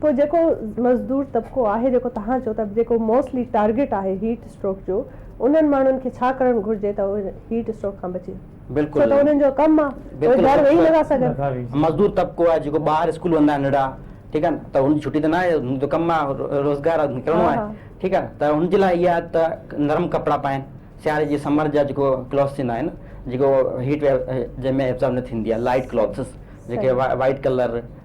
پوء جيڪو مزدور طبقو آهي جيڪو توهان چئو ٿا جيڪو موسٽلي ٽارگيٽ آهي هيٽ اسٽروڪ جو انهن ماڻهن کي ڇا ڪرڻ گهرجي ته اهي هيٽ اسٽروڪ کان بچي ڇو ته انهن جو ڪم آهي اهي گهر ويهي نٿا سگهن. مزدور طبقو آهي جيڪو ٻار اسڪول ويندا آهن ننڍڙا ٺيڪ آهي ته هن جي ڇٽي ته ناهي هن جو ڪم آهي روزگار آهي نڪرڻو آهي ٺيڪ آهي ته هن جي لاء اها آهي ته نرم ڪپڙا پائين سياري جي سمر جا جيڪو ڪلوٿس ٿيندا آهن جيڪو هيٽ ويو جنهن ۾ ابزارب نه ٿيندي آهي لائٽ ڪلوٿس جيڪي وائٽ ڪلر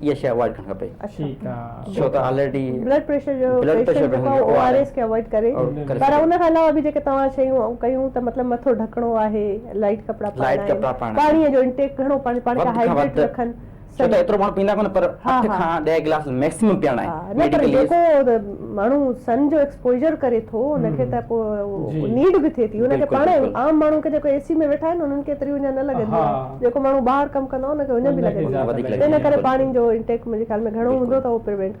اها شيء اوائڊ ڪرڻ کپي ڇو ته آلريڊي بلڊ پريشر جو پيشنٽ جيڪو آهي او آر ايس کي اوائڊ ڪري پر ان کان علاوه به جيڪي توهان شيون ڪيون ته مطلب مٿو ڍڪڻو آهي لائٽ ڪپڙا پائڻا پاڻي جو انٽيڪ گهڻو پاڻي کي هائڊريٽ رکن ڇو ته ايترو ماڻهو پيئندا ڪونه پر اٺ کان ڏهه گلاس ميڪسيمم پيئڻا آهن پر جيڪو ماڻهو سن جو ايڪسپوجر ڪري ٿو ان کي ته پوء نيڊ به ٿئي ٿي ان کي پاڻ عام ماڻهو کي جيڪو اي سي ۾ ويٺا آهن انهن کي ايتريون اڃا نه لڳنديون آهن جيڪو ماڻهو ٻاهر ڪم ڪندو آهي ان کي اڃ به لڳندي آهي ان ڪري پاڻي جو انٽيڪ منهنجي خيال ۾ گهڻو هوندو ته اهو پريوينٽ ڪندو.